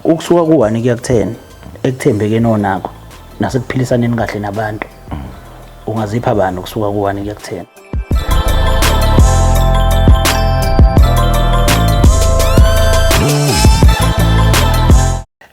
ukusuka ku-one kuya ku-ten ekuthembekeni onakho nasekuphilisaneni kahle nabantu ungazipha bani ukusuka ku-one kuya ku-ten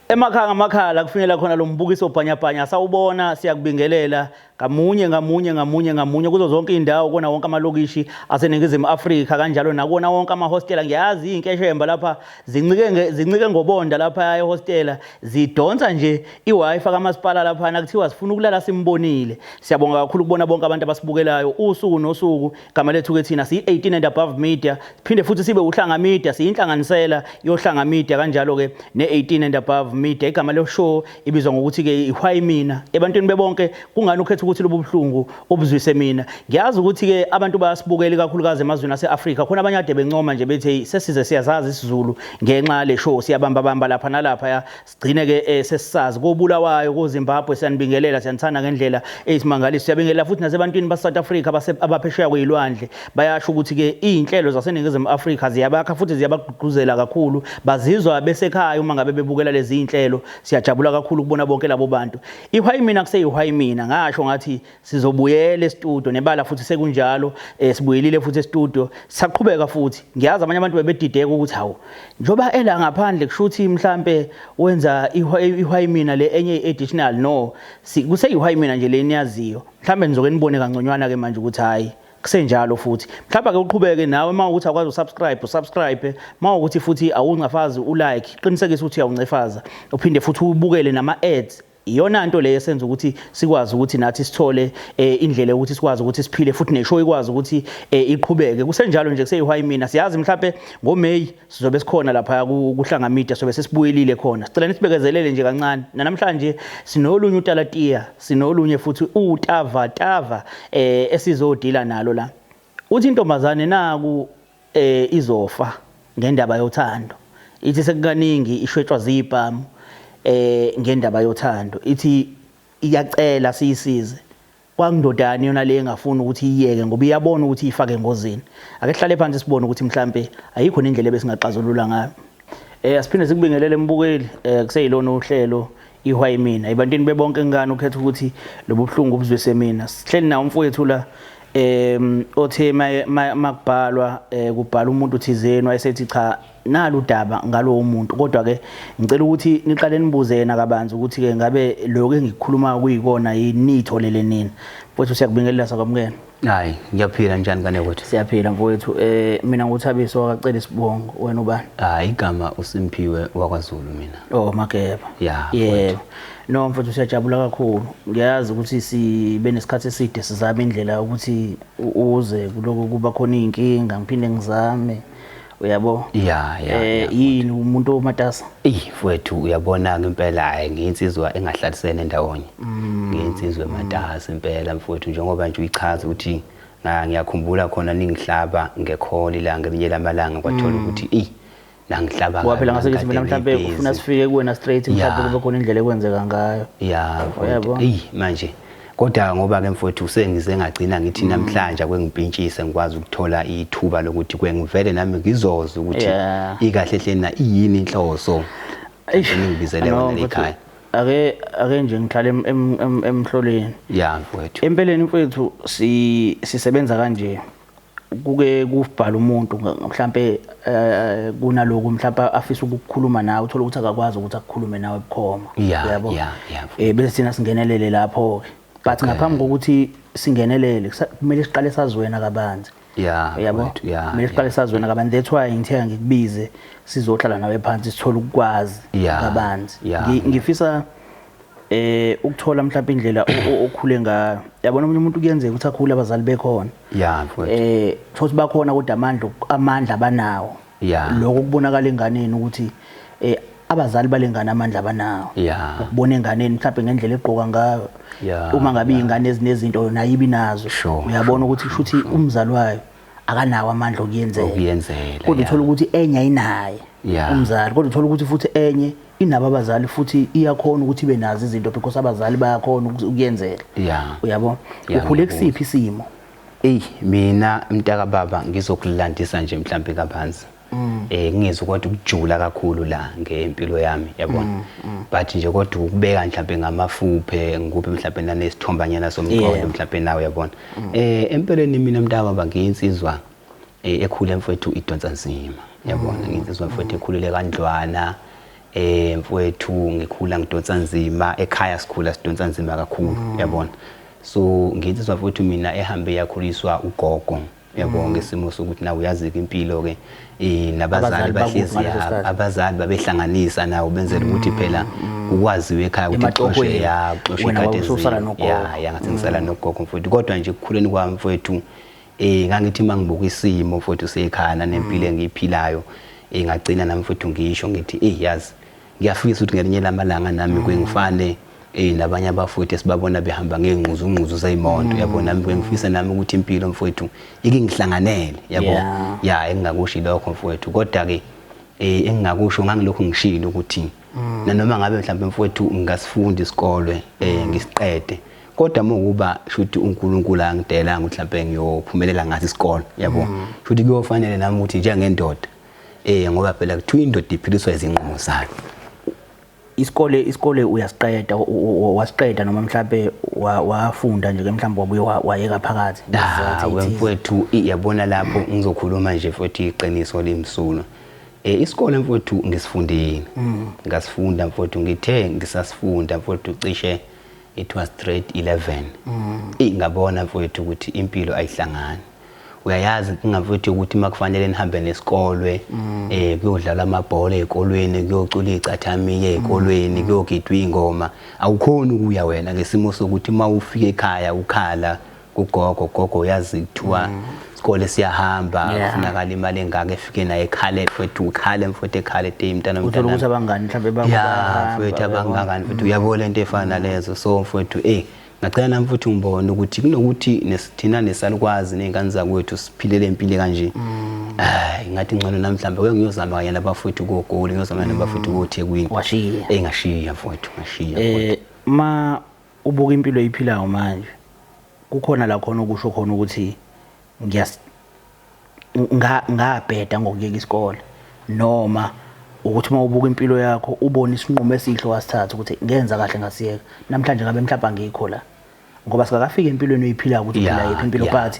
emakhaya ngamakhaya la kufinyela khona lo mbukiso bhanyabhanya sawubona siyakubingelela ngamunye ngamunye ngamunye ngamunye kuzo zonke iy'ndawo kona wonke amalokishi aseningizimu afrika kanjalo nakona wonke amahostela ngiyazi iy'nkeshemba lapha zincike zincike ngobonda lapha ehostela zidonsa nje i-wifi kamasipala laphana kuthiwa sifuna ukulala simbonile siyabonga kakhulu kubona bonke abantu abasibukelayo usuku nosuku igama lethu ke thina siyi-18 and above media siphinde futhi sibe uhlanga media siyinhlanganisela yohlanga media kanjalo-ke ne-18 and above media igama loshow ibizwa ngokuthi-ke ihwayi mina ebantwini bebonke kungani ukhetha ukuthi lobu buhlungu ubuzwise mina ngiyazi ukuthi-ke abantu bayasibukela ikakhulukazi emazweni ase-afrika khona abanye ade bencoma nje bethi hey sesize siyazazi isizulu ngenxa yale show siyabambabamba lapha nalapha ya sigcine-ke um sesisazi kobulawayo kozimbabwe siyanibingelela siyanithanda ngendlela eyisimangaliso siyabingelela futhi nasebantwini base-south africa abaphesheya kweyilwandle Bayasho ukuthi-ke iy'nhlelo zaseNingizimu Afrika ziyabakha futhi ziyabagqugquzela kakhulu. Bazizwa besekhaya uma ngabe bebukela lezi iy'nhlelo. Siyajabula kakhulu ukubona bonke labo bantu. Ihwayimina kuseyihwayimina. Ngasho ngathi sizobuyela estudio nebala futhi sekunjalo. Eh, sibuyelile futhi estudio. Sisaqhubeka futhi. Ngiyazi abanye abantu bebedideka ukuthi hawu njengoba ela ngaphandle kusho ukuthi mhlampe wenza ihwayimina le enye i-additional. No, kuseyihwayimina nje le niyaziyo. Mhlambe nizoke nibone kangconywana-ke manje ukuthi hhayi kusenjalo futhi mhlawumbe ake uqhubeke nawe uma ukuthi akwazi usubscribe usubscribe uma ukuthi futhi awuncafazi ulike qinisekisa ukuthi uyawuncefaza uphinde futhi ubukele nama ads iyona nto leyo esenza ukuthi sikwazi ukuthi nathi sithole eh, indlela yokuthi sikwazi ukuthi siphile futhi neshow ikwazi ukuthi eh, iqhubeke kusenjalo nje kuseyihayi mina siyazi mhlawumbe ngoMay sizobe sikhona laphaya kuhlanga media sobe sesibuyelile khona sicela nisibekezelele nje kancane namhlanje sinolunye utalatiya sinolunye futhi utava tava eh esizodila nalo la uthi intombazane naku eh izofa ngendaba yothando ithi sekukaningi ishwetshwa zibhamu eh ngendaba yothando ithi iyacela siyisize Kwangindoda yani yona le engafuni ukuthi iyeke ngoba iyabona ukuthi iyifake engozini. Ake sihlale phansi sibone ukuthi mhlambe ayikho nendlela ebesingaxazulula ngayo. Eh asiphinde sikubingelele embukeli eh kuseyilona uhlelo ihwa imina. Ibantini bebonke ngani ukhetha ukuthi lobuhlungu ubuzwise mina. Sihleli nawo umfowethu la em othe makubhalwa eh, kubhala umuntu thizeni wayesethi cha nalu udaba ngalowo muntu kodwa ke ngicela ukuthi niqale nibuze yena kabanzi ukuthi ke ngabe lokho engikukhulumayo kuyikona yini nitholele nina mfowethu siyakubingelela sakwamukela hayi ngiyaphila njani kane kwethu siyaphila mfowethu eh mina nguthabiso wakacela isibongo wena ubani hayi igama usimphiwe wakwazulu mina oh mageba yeah yebo no mfowethu siyajabula kakhulu ngiyazi ukuthi sibe nesikhathi eside sizama indlela ukuthi uze kuloko kuba khona izinkinga ngiphinde ngizame uyabo ya ya eh yini umuntu omatasa eh mfowethu uyabona ngempela hayi ngiyinsizwa engahlalisene ndawonye mm. ngiyinsizwa ematasa impela mfowethu njengoba nje uyichaza ukuthi ngiyakhumbula khona ningihlaba ngekholi la ngelinye lamalanga kwathola mm. ukuthi eh nangihlaba ngayo phela ngasekithi mina mhlambe ufuna sifike kuwena straight mhlambe kube khona indlela ekwenzeka ngayo ya mfowethu eh manje Kodwa ngoba ke mfowethu usengize ngagcina ngithi mm. namhlanje akwengimpintshise ngikwazi ukuthola ithuba lokuthi kwengivele nami ngizoze ukuthi yeah. ikahle hle na iyini inhloso engibizele yona ekhaya. Ake ake nje ngihlale emhloleni. Yeah mfowethu. Empeleni mfowethu si sisebenza kanje. kuke kubhala umuntu mhlampe eh, kunaloku mhlampe afisa ukukhuluma nawe uthola ukuthi akakwazi ukuthi akukhulume nawe bukhoma yabo eh bese sina singenelele lapho ke but ngaphambi kokuthi singenelele kumele siqale sazi wena kabanzi yeah yabo kumele siqale sazi wena kabanzi that's why ngithe ngikubize sizohlala nawe phansi sithole ukwazi kabanzi ngifisa eh ukuthola mhlawumbe indlela okhule ngayo yabona umuntu umuntu kuyenzeka ukuthi akhule abazali bekhona yeah mfowethu eh thothi bakhona kodwa amandla amandla abanawo yeah lokho kubonakala enganeni ukuthi eh abazali balengane amandla abanawo yeah ukubona enganeni mhlawumbe ngendlela egqoka ngayo yeah uma ngabe ingane ezinezinto yona yibi nazo uyabona ukuthi kushuthi umzali wayo akanawo amandla okuyenzela okuyenzela kodwa uthola ukuthi enye ayinaye umzali kodwa uthola ukuthi futhi enye inabo abazali futhi iyakhona ukuthi ibe nazo izinto because abazali bayakhona ukuyenzela uyabo ukhule kusiphi isimo eyi mina mntaka baba ngizokulandisa nje mhlampe kabanzi mm. eh ngizwe kodwa ukujula kakhulu la ngempilo yami yabona mm, mm. but nje kodwa ukubeka mhlawumbe ngamafuphe ngikuphe mhlawumbe nanesithombanyana somqondo mhlawumbe nawe yabona eh empeleni mina mntaba bangiyinsizwa eh, ekhule mfowethu idonsa nzima yabona nginsizwa mfowethu ekhulile kandlwana eh mfowethu ngikhula ngidonsa nzima ekhaya sikhula sidonsa nzima kakhulu yabona so nginsizwa mfowethu mina ehambe yakhuliswa ugogo yabo mm. ngesimo sokuthi nawe uyazi-ke impilo-ke um nabazali bahlezi abazali babehlanganisa nawo benzela ukuthi mm, phela mm. kukwaziwe ekhaya ukuthi xoshe ya xoshe ikadeziyaya ngathi ngisala nogogo mfowethu kodwa nje ekukhuleni kwami mfowethu um eh, ngangithi uma ngibuka isimo mfowethu sekhana nempilo engiyiphilayo um ngagcina nami mfowethu ngisho ngithi eyi yazi Ngiyafisa ukuthi ngelinye lamalanga nami kwengifane eh nabanye abafowethu esibabona behamba ngengquzu ngquzu zeyimonto mm. yabo nami bengifisa nami ukuthi impilo mfowethu ikingihlanganele yabo ya engingakushi lokho mfowethu kodwa ke eh engingakusho ngangilokho ngishilo ukuthi mm. nanoma ngabe mhlawumbe mfowethu ngingasifundi isikole eh mm. ngisiqede kodwa mokuba shuthi uNkulunkulu angidelanga ukuthi mhlawumbe ngiyophumelela ngathi isikole yabo shuthi kuyofanele nami ukuthi njengendoda Eh ngoba phela kuthiwa indoda iphiliswa izinqumo zayo. Isikole isikole uyasiqeda wasiqeda noma mhlambe wafunda nje ke mhlambe wabuye wayeka phakathi. Ah wemfowethu iyabona lapho ngizokhuluma nje futhi iqiniso limsulwa. Eh isikole mfowethu ngisifundile. Mm. Ngasifunda mfowethu ngithe ngisasifunda mfowethu cishe it was grade 11 mm. ingabona mfowethu ukuthi impilo ayihlangani uyayazi inkinga mfethu ukuthi uma kufanele nihambe nesikolwe mm. eh kuyodlala amabhola ezikolweni kuyocula icathamiya ezikolweni mm. kuyogidwa ingoma awukhona ukuya wena ngesimo sokuthi uma ufika ekhaya ukhala kugogo gogo uyazi kuthiwa mm. isikole siyahamba kufunakala imali engaka efike naye ekhale mfethu ukhale mfethu ekhale te mntana mntana ukuthi abangani mhlawumbe bangaba mfethu abangani mfethu uyabona into efana lezo so mfethu eh Ngacela nami futhi ngibone ukuthi kunokuthi nesithina nesalukwazi nezingane zakwethu siphile lempilo kanje. Mm. Hayi ngathi ngcono nami mhlambe ke ngiyozama kanye nabafowethu ko Goli ngiyozama nabafowethu mm. ko Thekwini. Washiya. Eh ngashiya mfowethu ngashiya. Eh ma ubuka impilo iphilayo manje kukhona la khona ukusho khona ukuthi ngiyas ngabheda ngokuyeka isikole noma ukuthi uma ubuka impilo yakho ubone isinqumo esihle wasithatha ukuthi ngenza kahle ngasiyeka namhlanje ngabe mhlawumbe angikho la ngoba sikakafika empilweni oyiphilayo ukuthi uphila yiphi impilo but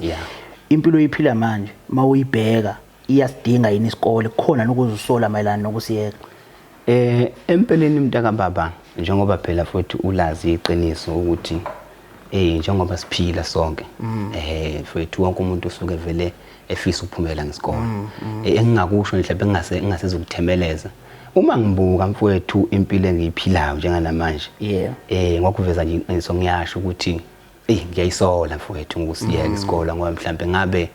impilo oyiphila manje uma uyibheka iyasidinga yini isikole khona nokuzisola mayelana nokusiyeka Eh empeleni mntaka baba njengoba phela futhi ulazi iqiniso ukuthi eh njengoba siphila sonke mm. eh futhi wonke umuntu usuke vele efisa ukuphumela ngesikole mm, mm. Eh, engingakusho nje mhlawumbe ngingase ngingaseza ukuthemeleza uma ngibuka mfowethu impilo engiyiphilayo njenganamanje yeah eh ngokuveza nje iqiniso ngiyasho ukuthi eyi ngiyayisola mfowethu ngokusiyeka mm. isikole ngoba mhlawumbe ngabe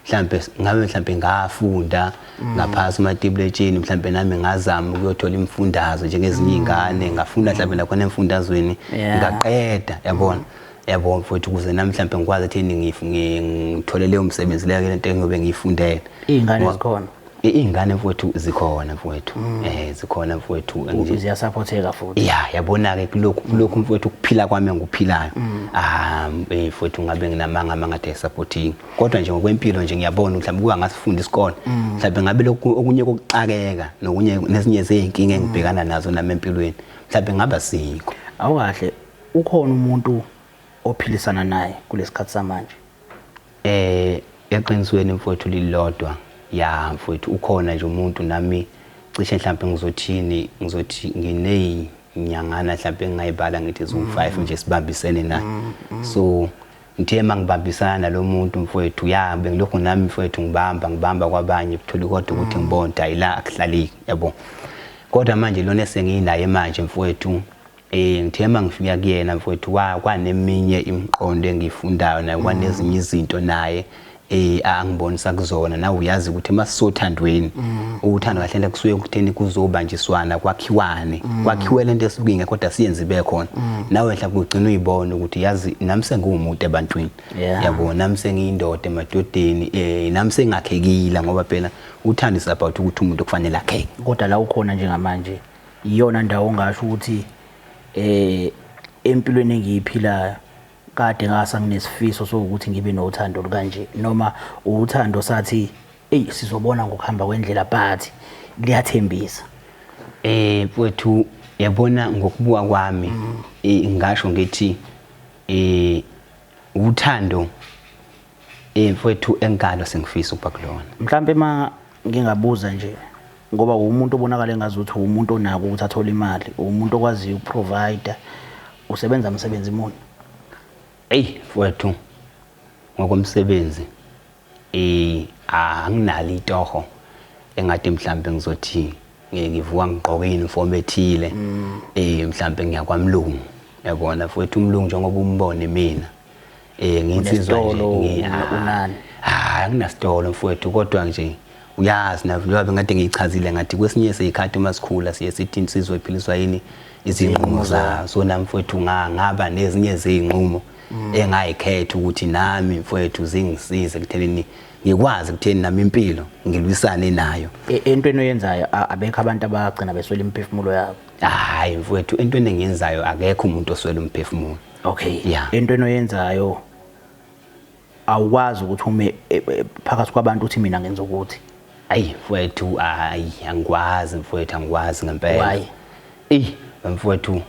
mhlawumbe ngabe mhlawumbe ngafunda mm. ngaphasi umatibletsheni mhlawumbe nami ngazama ukuyothola imfundazo njengezinye mm. iy'ngane ngafunda mhlawumbe nakhona emfundazweni ngaqeda yabona yabona mfowethu ukuze nami mhlawumbe ngikwazi ekutheni ngithole leyo msebenzi leyo lento engiyobe ngiyifundele iy'ngane zikhona Iy'ngane mfowethu zikhona mfowethu mm. eh zikhona mfowethu ziyasaphotheka futhi ya yabona-ke kulokhu kulokhu mfowethu ukuphila kwami engikuphilayo mm. ah eh, mfowethu ngabe nginamanga amanga athe supporting kodwa nje ngokwempilo nje ngiyabona mhlawumbe kuka ngasifunda isikole mm. mhlawumbe ngabe lokhu okunye kokuxakeka nokunye nezinye zey'nkinga engibhekana nazo nami empilweni mhlawumbe ngaba sikho awukahle ukhona umuntu ophilisana naye kulesikhathi samanje Eh eqinisweni mfowethu lilodwa ya mfowethu ukhona nje umuntu nami cishe mhlawumbe ngizothini ngizothi ngineyinyangana mhlawumbe engingayibala ngithi ziwu 5 mm. nje sibambisene naye mm, mm. so ngithe mangibambisana nalomuntu mfowethu ya bengilokhu nami mfowethu ngibamba ngibamba kwabanye kuthuli kodwa ukuthi ngibonda ila akuhlaliki yabo kodwa manje lona esenginaye manje mfowethu Eh ngithemba ngifika kuyena mfowethu kwa kwaneminye imiqondo engifundayo naye kwanezinye izinto naye eh angibonisa kuzona nawe uyazi ukuthi emasisothandweni mm. uthando kahle nje kusuye ukutheni kuzobanjiswana kwakhiwane mm. kwakhiwe lento esuke ingekho kodwa siyenze ibe khona mm. nawe hla kugcina uyibona ukuthi yazi nami sengiwumuntu ebantwini yabo nami sengiyindoda emadodeni eh nami sengakhekile ngoba phela uthando is about ukuthi umuntu kufanele akheke kodwa la ukhona njengamanje iyona ndawo ongasho ukuthi eh empilweni engiyiphilayo kade ngasa nginesifiso sokuthi ngibe nothando kanje noma uthando sathi ey sizobona ngokuhamba kwendlela but liyathembisa eh mfowethu yabona ngokubuka kwami mm. eh, ngasho ngithi eh uthando Eh mfowethu engalo sengifisa ukuba kulona. Mhlampe ma ngingabuza nje ngoba umuntu obonakala engazi ukuthi umuntu onako ukuthi athole imali, umuntu okwaziyo ukuprovider, usebenza msebenzi muni? Ey mfowethu ngokomsebenzi eh anginalo itoho engathi mhlambe ngizothi ngivuka ngigqoke uniform ethile eh mhlambe ngiyakwamlungu yabona futhi umlungu njengoba umbone mina Eh nginsizwa nje. Unani? Hayi anginasitolo mfowethu kodwa nje uyazi na njengoba ngathi ngiyichazile ngathi kwesinye isikhathi uma sikhula siye sithi insizwa iphiliswa yini izinqumo zayo so nami mfowethu ngaba nezinye izinqumo mm. engayikhetha ukuthi nami mfowethu zingisize kuthenini ngikwazi kutheni nami impilo ngilwisane nayo e, entweni oyenzayo abekho abantu abagcina beswela imiphefumulo yabo hayi mfowethu entweni engiyenzayo akekho umuntu oswela umphefumulo okay yeah. into enoyenzayo awukwazi ukuthi ume e, e, phakathi kwabantu uthi mina ngenza ukuthi ayi mfowethu ayi angikwazi mfowethu angikwazi ngempela why eh mfowethu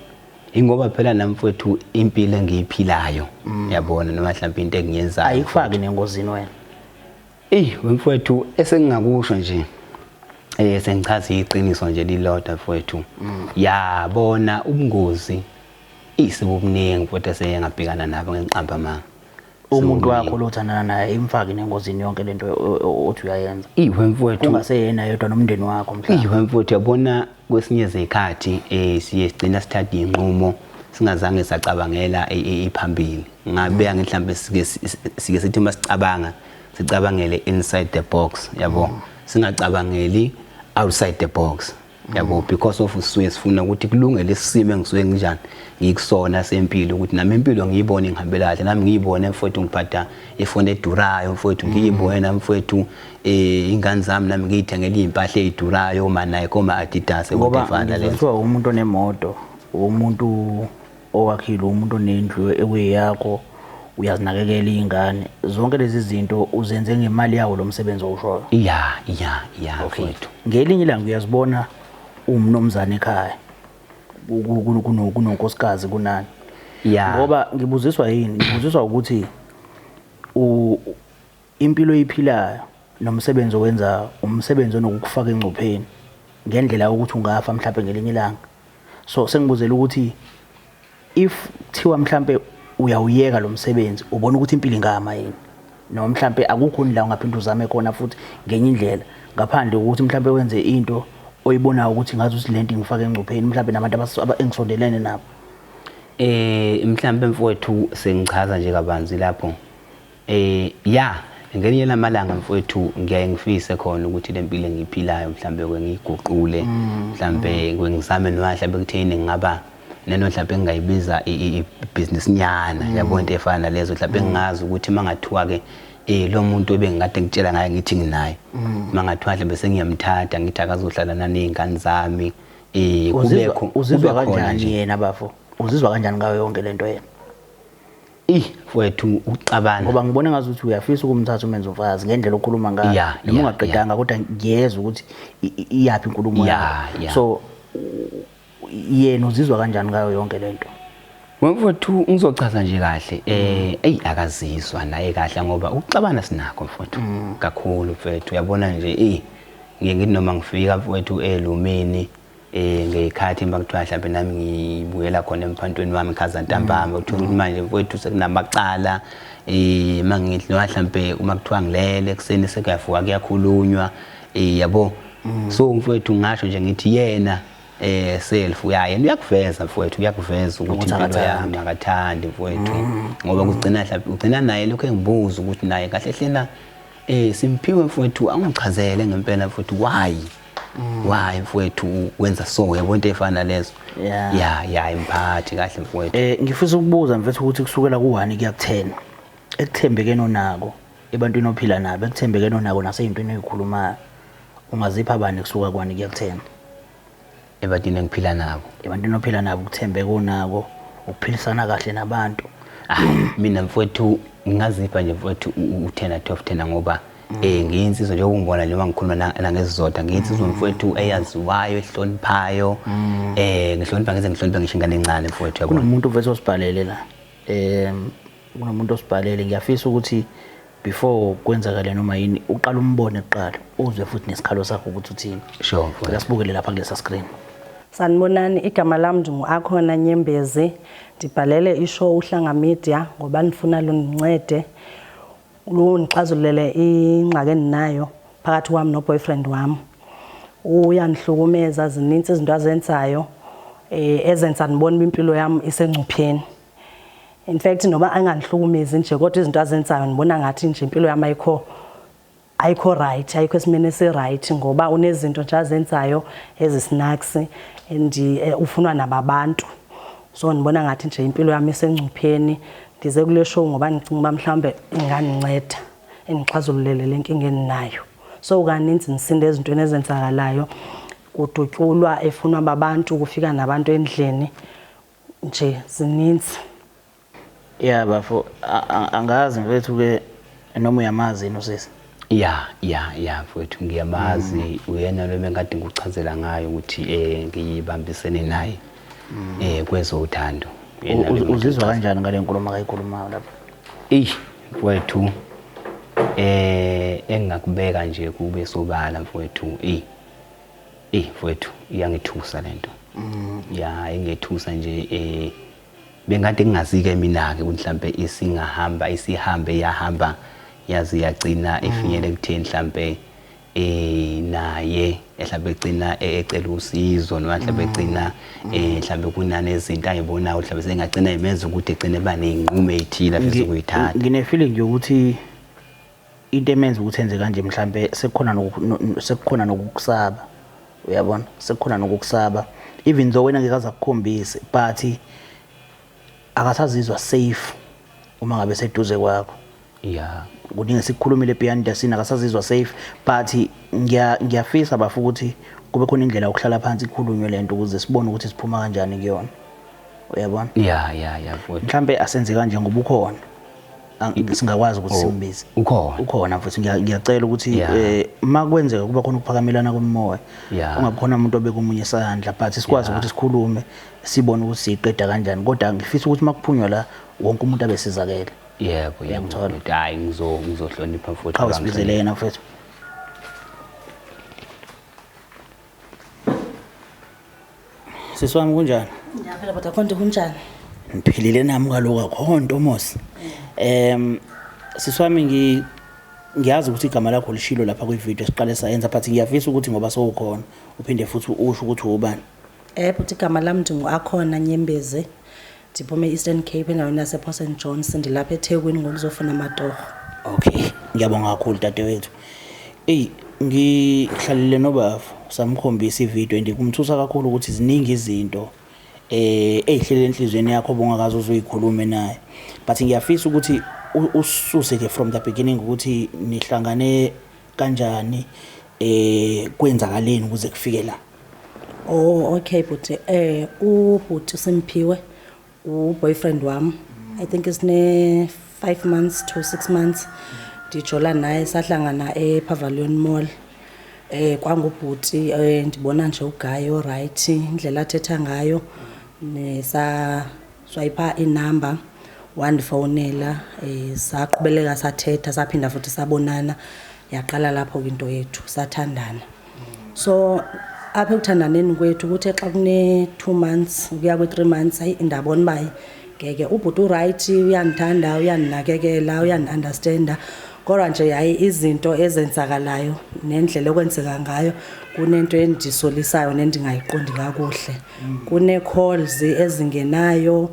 ingoba phela nami mfowethu impilo engiyiphilayo mm. yabona noma mhlawumbe into engiyenzayo ayikufaki nengozini wena eh mfowethu esengingakusho nje eh sengichaza iqiniso nje lilodwa mfowethu mm. yabona ubungozi Eyi sekukuningi futhi eseye ngabhekana nabo ngenqamba amanga. Umuntu wakho lo uthandana naye imfake nengozini yonke lento othi uyayenza. Iwe mfowethu. Kungaseyena yedwa nomndeni wakho mhlawumbe. Iwe mfowethu yabona kwesinye izikhathi eh siye sigcina sithatha inqumo singazange sacabangela e, e, iphambili. Ngabe angithi mhlambe sike sike sithi uma sicabanga sicabangele inside the box yabo. Mm. Singacabangeli outside the box. yabo because of sisuke sifuna ukuthi kulunge lesisimo engisuke nginjani ngikusona sempilo ukuthi nami impilo ngiyibone ngihambela kahle nami ngiyibone mfowethu ngiphatha ifoni edurayo mfowethu ngiyibone nami mfowethu eh ingane zami nami ngiyithengele impahla ezidurayo ma Nike ma Adidas ngoba ngifana le kuthiwa umuntu onemoto umuntu Owakhile umuntu onendlu ekuyeyakho, uyazinakekela iy'ngane. Zonke lezi zinto uzenze ngemali yawo lo msebenzi owushoyo. Ya, ya, ya Okay. mfowethu. Ngelinye ilanga uyazibona umnumzane ekhaya ku- ku- ku- kuno- kunonkosikazi kunani. Ya. Ngoba ngibuziswa yini? Ngibuziswa ukuthi u- Impilo oyiphilayo nomsebenzi owenzayo umsebenzi onokukufaka engcupheni ngendlela yokuthi ungafa mhlawumbe ngelinye ilanga so sengibuzela ukuthi if thiwa mhlawumbe uyawuyeka lo msebenzi ubona ukuthi impilo ingama yini noma mhlawumbe akukho indlela ungaphinde uzame khona futhi ngenye indlela ngaphandle kokuthi mhlawumbe wenze into oyibonayo ukuthi ngazi ukuthi lento ingifaka engcupheni mhlawumbe nabantu engisondelene nabo eh mhlawumbe mfowethu sengichaza nje kabanzi lapho Eh ya ngelinye lamalanga mfowethu ngiyaye ngifise khona ukuthi le mpilo engiyiphilayo mhlambe kwengiyiguqule mm. mhlambe kwengizame noma mhlambe kuthini ngingaba nento mhlawumbe engingayibiza i-business nyana mm. yabo into efana nalezo mhlawumbe mm. engingazi ukuthi uma ngathiwa ke eh lo muntu ebengikade ngitshela ngaye ngithi nginaye mm. uma ngathiwa mhlawumbe sengiyamthatha ngithi akazohlala naney'ngane zami um uzizwa kanjani yena bafo uzizwa kanjani ngayo yonke le nto yena Ih wethu ukuxabana. Ngoba ngibona ngazi ukuthi uyafisa ukumthatha umenze umfazi ngendlela okhuluma ngayo. Yeah, Noma yeah, ungaqedanga kodwa ngiyezwa ukuthi i- i- iyaphi inkulumo Yeah, yakho. yeah. So u- yena uzizwa kanjani ngayo yonke lento? Mfowethu ngizochaza nje kahle eh eyi akazizwa naye kahle ngoba ukuxabana sinakho mfowethu kakhulu mfowethu uyabona nje eh ngiye ngithi noma ngifika mfowethu elumini eh ngeyikhathi uma kuthiwa mhlawumbe nami ngibuyela khona emphantweni wami khaza ntambama mm. uthola ukuthi manje mfowethu sekunamacala eh mangidli noma mhlawumbe uma kuthiwa ngilele kuseni sekuyavuka kuyakhulunywa eh yabo mm. so mfowethu ngasho nje ngithi yena eh self uyayena uyakuveza mfowethu uyakuveza ukuthi impilo yami akathandi mfowethu mm. ngoba kugcina mhlawumbe ugcina naye lokho engibuza ukuthi naye kahle hlena eh simphiwe mfowethu angichazele ngempela mfowethu why wayi mfowethu wenza so yabo into efana lezo Yeah. ya ya imphathi kahle mfowethu Eh ngifisa ukubuza mfethu ukuthi kusukela ku-1 kuya ku-10 ekuthembekeni onako ebantwini ophila nabo ekuthembekeni onako naseyintweni oyikhulumayo ungazipha bani kusuka ku-1 kuya ku-10 ebantwini engiphila nabo ebantwini ophila nabo ukuthembeka onako ukuphilisana kahle nabantu Ah, mina mfowethu ngingazipha nje mfowethu u- u- u-10 12 10 ngoba Eh ngiyinsizwa nje ukungibona nje mangikhuluma nangesizotha ngiyinsizwa mm. mfowethu eyaziwayo ehloniphayo mm. eh ngihlonipha ngize ngihloniphe ngisho ingane encane mfowethu yabona kunomuntu uvese osibhalele la eh kunomuntu osibhalele ngiyafisa ukuthi before kwenzakale noma yini uqala umbone kuqala uzwe futhi nesikhalo sakho ukuthi uthini sure mfowethu asibukele lapha kulesa screen Sanibonani igama lami ndinguAkhona Nyembezi ndibhalele ishow uHlanga Media ngoba nifuna lunincede Ungixazululele ingxaki endinayo phakathi kwami no-boyfriend wami. Uyangihlukumeza, zininzi izinto azenzayo eh, ezenza ndibona uba impilo yami isengcupheni. In fact noba angangihlukumezi nje kodwa izinto azenzayo ndibona ngathi nje impilo yami ayikho ayikho right, ayikho esimeni esi-right ngoba unezinto nje azenzayo ezisinaks and eh, ufunwa nababantu. So ngibona ngathi nje impilo yami isengcupheni ngize kule show ngoba ngicinga uba mhlawumbe ingandinceda ingixazululele le nkinga eninayo so kaninzi ngisinda ezintweni ezenzakalayo kudutyulwa efunwa babantu kufika nabantu endlini nje zininzi Yeah bafo angazi mfethu ke noma uyamazi yini usisi. Yeah yeah yeah mfethu ngiyamazi mm. uyena lo mengade ngikuchazela ngayo ukuthi eh ngiyibambisene naye. Mm. Eh kwezothando. Uzizwa kanjani ngale nkulumo akayikhulumayo lapha? Eish mfethu eh engingakubeka nje kube sobala mfethu eh eh mfethu iyangithusa lento. Mm. Yeah ingethusa nje eh Bengade ngingazike mina-ke ukuthi mhlampe isingahamba isihambe yahamba yaze yagcina ifinyele ekutheni mhlampe eh naye mhlambe egcina eh, ecela usizo noma mhlambe mm. egcina eh mhlambe kunane izinto ayibonayo mhlambe sengagcina imenza ukuthi egcine bane inqume ethile afisa ukuyithatha ngine feeling yokuthi into emenza ukuthi enze kanje mhlambe sekukhona sekukhona nokukusaba uyabona sekukhona nokukusaba even though wena ngeke azakukhombise but akasazizwa safe uma ngabe seduze kwakho yeah kuningi sikukhulumile beyond the scene akasazizwa safe but ngiya ngiyafisa bafu ukuthi kube khona indlela yokuhlala phansi ikhulunywe lento ukuze sibone ukuthi siphuma kanjani kuyona uyabona yeah yeah yeah mhlambe asenze kanje ngoba ukhona ang- singakwazi ukuthi simbize Oh, ukhona. ukhona futhi ngiya- ngiyacela ukuthi Yeah. eh, uma kwenzeka kuba khona ukuphakamelana komoya Yeah. ungakhona umuntu obeka omunye isandla but sikwazi Yeah. ukuthi sikhulume sibone ukuthi siyiqeda kanjani kodwa ngifisa ukuthi uma kuphunywa la wonke umuntu abe sizakele yebo yebo Ngiyamthola. mfowethu. hayi ngizo- ngizohlonipha mfowethu qhawe banghlonipha. sibizele yena mfethu Sisi wami kunjani? Ngiyaphila baba Khonto kunjani? Ngiphilile nami kaloku akho nto Mosi. Em sisi wami ngi ngiyazi ukuthi igama lakho lishilo lapha kwivideo siqale sayenza but ngiyafisa ukuthi ngoba sowukhona uphinde futhi usho ukuthi ubani. Eh bhuti igama lami nje ngu-Akhona Nyembezi. Ndiphuma e-Eastern Cape endaweni yasePort St Johns ndilapha eThekwini ngokuzofuna amatorho. Okay, ngiyabonga kakhulu dadewethu. Eyi ngihlalile nobaba samkhombisa ividiyo and kumthusa kakhulu ukuthi ziningi izinto eh ezihlele enhlizweni yakho obungakaze uzoyikhulume naye but ngiyafisa ukuthi ususe ke from the beginning ukuthi nihlangane kanjani eh kwenzakaleni ukuze kufike la Oh okay bhuti eh ubhuti uSimphiwe uboyfriend wami I think isine 5 months to 6 months ndijola naye sahlangana ePavilion Mall eh kwangubhuti eh ndibona nje ugayi oright indlela athetha ngayo nesa swayipha inumber wandifonela um saqhubeleka sathetha saphinda futhi sabonana yaqala lapho ke into yethu sathandana so apha ekuthandaneni kwethu kuthe xa kune-two months ukuya kwi-three months ayi ndabona uba ngeke ubhuti urayithi uyandithanda uyandinakekela uyandiunderstanda kodwa nje yayi izinto ezenzakalayo nendlela okwenzeka ngayo kunento endisolisayo nendingayiqondi kakuhle Kune-calls ezingenayo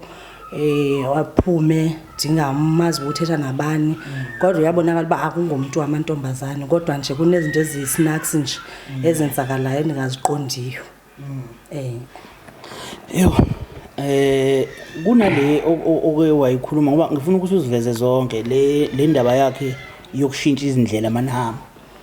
eh aphume ndingamazi ukuthi ethetha nabani kodwa uyabonakala uba akungomntu wamantombazane kodwa nje kunezinto eziyi-snacks nje ezenzakalayo endingaziqondiyo um yho eh kunale oke wayikhuluma ngoba ngifuna ukuthi uziveze zonke le le ndaba yakhe yokushintsha izindlela manihamba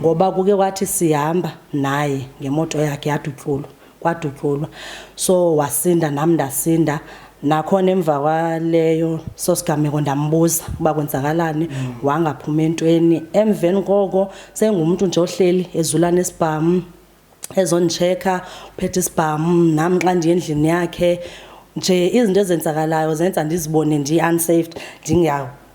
ngoba kuke kwathi sihamba naye ngemoto yakhe yadutyulwa kwadutyulwa so wasinda nami ndasinda nakhona emva kwaleyo sosigameko ndambuza uba kwenzakalani mm. wangaphuma entweni emveni koko sengumuntu nje ohleli ezulana esibhamu ezondichecka uphethe isibhamu nami xa ndiye endlini yakhe nje izinto ezenzakalayo zenza ndizibone ndi-unsaved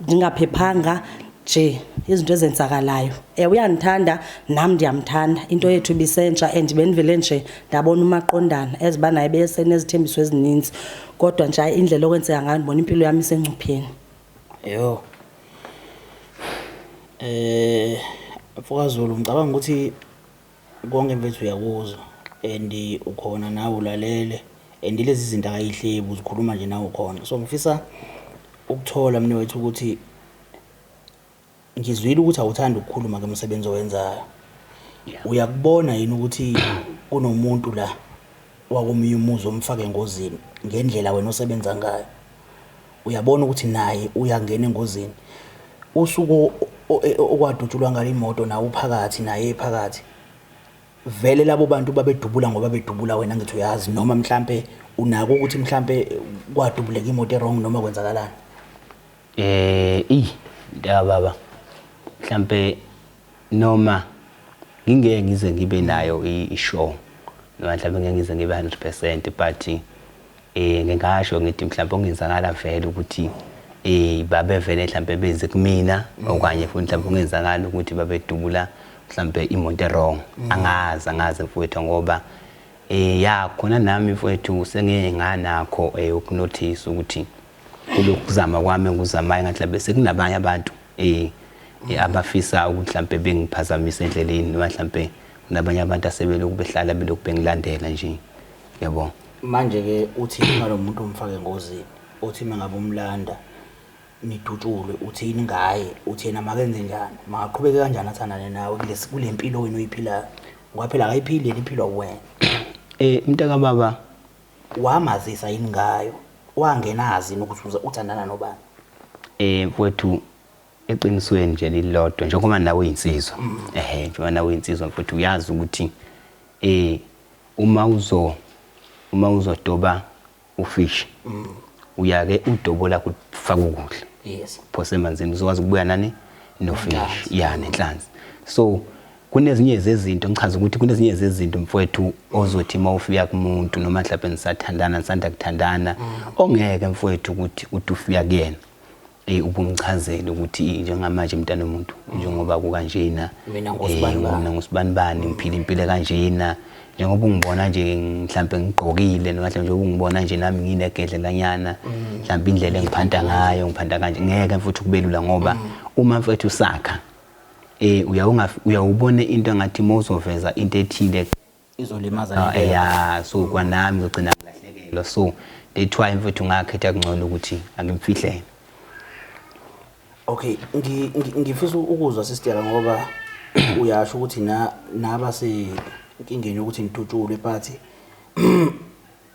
ndingaphephanga nje izinto ezenzakalayo um uyandithanda nam ndiyamthanda into yethu ibisentsha and bendivele nje ndabona umaqondana as uba naye besenezithembiso ezininzi kodwa nje indlela okwenzeka ngayo ndibona impilo yam isengcupheni yho um mfokazulu ngicabanga ukuthi Konke mfethu uyakuzwa and ukhona nawe ulalele and lezi zinto akayihlebi uzikhuluma nje nawe ukhona so ngifisa ukuthola mina wethu ukuthi ngizwile ukuthi awuthandi ukukhuluma ngomsebenzi owenzayo uyakubona yini ukuthi kunomuntu la wakomunye umuzi omfake engozini ngendlela wena osebenza ngayo Uyabona ukuthi naye uyangena engozini. Usuku e, okwadutshulwa ngalo imoto nawe uphakathi naye ephakathi. Vele labo bantu babedubula ngoba bedubula wena ngithi uyazi noma mhlampe unako ukuthi mhlampe kwadubuleka imoto erong noma kwenzakalani. Eh, ey, ndaba baba. Mhlampe Noma ngingeke ngize ngibe nayo i-show noma mhlawumbe ngeke ngize ngibe 100 percent but um ngingasho ngithi mhlawumbe okungenzakala vele ukuthi um babevele mhlawumbe benze kumina mm. okanye futhi mhlawumbe okungenzakala ukuthi babedubula mhlawumbe imoto erong mm. angazi angazi mfowethu ngoba um ya khona nami mfowethu sengeke nganakho um eh, ukunothisa ukuthi kulokuzama kwami ngikuzamayo ngathi mhlawumbe sekunabanye abantu eh eh, abafisa ukuthi mhlampe bengiphazamisa endleleni noma mhlampe kunabanye abantu asebelokhu behlala belokhu bengilandela nje yabo manje ke uthi ngalomuntu omfake engozini uthi mangabe umlanda nidutshulwe uthini ngaye uthi yena makenze njani makaqhubeke kanjani athandane nawe kulesi kulempilo wena oyiphilayo ngoba phela akayiphili yena iphilwa uwena eh mntaka baba Wamazisa yini ngayo? Wangenazi yini ukuthi uze uthandana nobani? Eh mfwethu eqinisweni nje lilodwa njengoba nawe uyinsizwa. Ehhe njengoba nawe uyinsizwa mfwethu uyazi ukuthi eh uma uzo uma uzodoba ufish uyake udobola kufaka ukudla. Yes. Phose emanzini uzokwazi ukubuya nani nofish. Nenhlanzi. Yeah nenhlanzi. So kunezinye zezinto ngichaza ukuthi kunezinye zezinto mfowethu ozothi uma ufika kumuntu noma mhlawumbe nisathandana nisanda kuthandana mm. ongeke mfowethu ukuthi uthi ufika kuyena eh ubumchazele ukuthi njengamanje mntana omuntu mm. njengoba kukanjena mina eh, ngosibanibani ngiphila impilo kanjena njengoba ungibona nje mhlambe ngigqokile noma mhlambe njengoba ungibona nje nami nginegedlelanyana mm. mhlambe indlela engiphanda ngayo ngiphanda kanje ngeke mfuthu kubelula ngoba uma mfethu sakha Eh uyawunga uyawubona into ngathi mawuzoveza into ethile izolimaza ah, into. Yeah, so kwanami ngizogcina ngilahlekelwa. So that's why mfethu ngakhetha kungcono ukuthi angimfihlele. Okay, ngi ngifisa ukuzwa sister ngoba uyasho ukuthi na naba se inkingeni ukuthi nidutshulwe but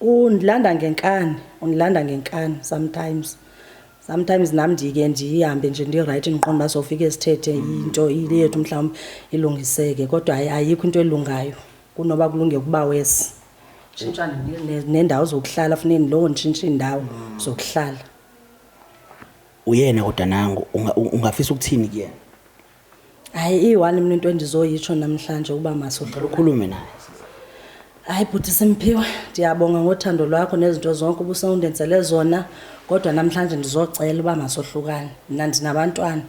Undilanda ngenkani, undilanda ngenkani sometimes. Sometimes nam ndike ndihambe nje ndirayithi ndiqonda uba sofika esithethe into ile yethu mhlawumbi ilungiseke kodwa hayi ayikho into elungayo kunoba kulunge ukuba wesi tshintshane nendawo zokuhlala funeke ndilowo nditshintshe iindawo zokuhlala uyena kodwa nangu ungafisa ukuthini kuyena hayi iyi-one mina into endizoyitsho namhlanje uba masuqala ukhulume naye hayi bhuti simphiwe ndiyabonga ngothando lwakho nezinto zonke ubusewundenzele zona kodwa namhlanje ndizocela uba masohlukane mna ndinabantwana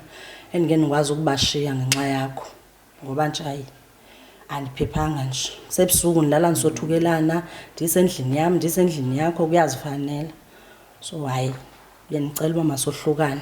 endike ndikwazi ukubashiya ngenxa yakho ngoba nje hayi andiphephanga nje sebusuku ndilala ndisothukelana ndisendlini yam ndisendlini yakho kuyazifanela so hayi bendicela uba masohlukane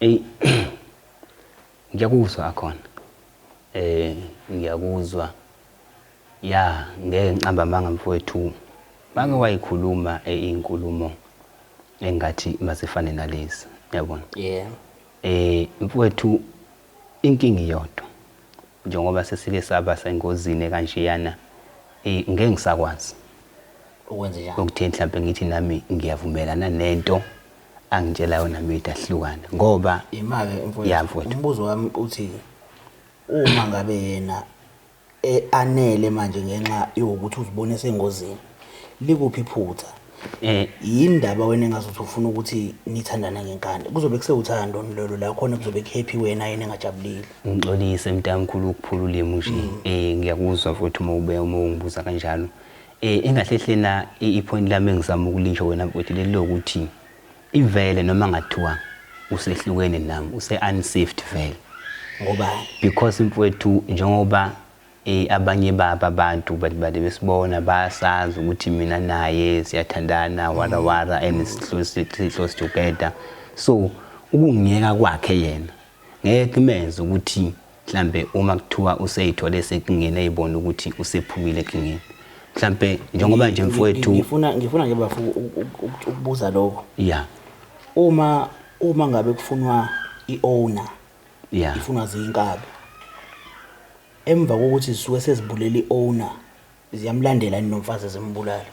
Ey ngiyakuzwa akhona eh ngiyakuzwa ya ngeke ngiqamba amanga mfowethu bake wayikhuluma eh, inkulumo engathi masifane nalezi yabona yeah eh mfowethu inkingi yodwa Njengoba sesike saba sengozini ekanjeyana, eyi ngeke ngisakwazi Ukwenzenjani? ukuthini mhlampe ngithi nami ngiyavumelana nento angitshela yona Mida sihlukane ngoba Ima-ke Ya, mfowethu, mfowethu. umbuzo wami uthi uma ngabe yena e-anele manje ngenxa yokuthi uzibona esengozini, likuphi iphutha? Eh yini indaba wena engazothi ufuna ukuthi nithandane ngenkani? Kuzobe kusewuthando lolo la khona kuzobe kuhappy wena yena engajabulile. Ngixolise mntamkhulu ukuphula ulimi nje. Mm. Eh ngiyakuzwa futhi uma ube uma ungibuza kanjalo. Eh engahlehlela ipoint lami engizama ukulisho wena mfowethu leli lokuthi ivele noma ngathiwa usehlukene nami use unsafe vele. Ngoba because mfowethu njengoba Ey abanye babo abantu but bade besibona bayasazi ukuthi mina naye siyathandana wara wara and sihlose sihlose together so ukungiyeka kwakhe yena ngeke kumenze ukuthi mhlambe uma kuthiwa useyithole sekungena eyibona ukuthi usephumile ekingeni mhlambe njengoba nje mfowethu ngifuna ngifuna nje bafu ukubuza lokho yeah uma uma ngabe kufunwa iowner Yeah. ifunwa ziyinkabi emva kokuthi zisuke sezibulele i-owner ziyamlandela yini nomfazi zimbulale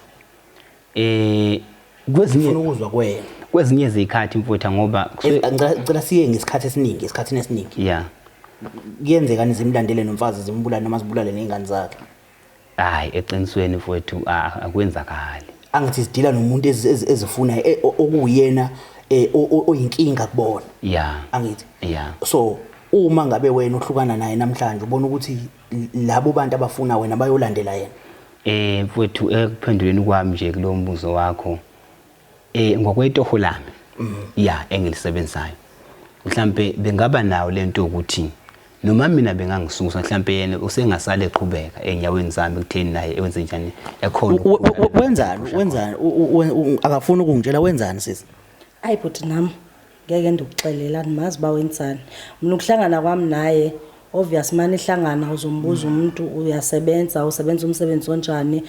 Eh funa kwezinye ukuzwa kwena kwezinye izikhathi mfutha ngoba kusuke- Eh, ngicela ngicela siye ngesikhathi esiningi esikhathini esiningi yeah. kuyenzekani zimlandele nomfazi zimbulale noma zibulale ney'ngane zakhe Hayi eqinisweni mfowethu a- a- akwenzakali. angathi zidila nomuntu ezi- ezi- ezifunayo e- o- okuwuyena eh, o- o- oyinkinga kubona Ya. angithi Ya. so uma ngabe wena uhlukana naye namhlanje ubona ukuthi l- labo bantu abafuna wena bayolandela yena Eh mfowethu ekuphenduleni kwami nje kulo mbuzo wakho Eh ngokwetoho lami. Mm. Yeah, engilisebenzayo. Mhlambe bengaba nawo lento ukuthi noma mina bengangisusa mhlambe yena usengasale eqhubeka enyaweni zami kutheni naye enze njani ekhona wenzani wenzani akafuni ukungitshela wenzani sisi ayi bhuti nami ngeke ndikuxelela ndimazi ba wenzani mina ukuhlangana kwami naye obvious mani ihlangana uzombuza umuntu uyasebenza usebenza umsebenzi onjani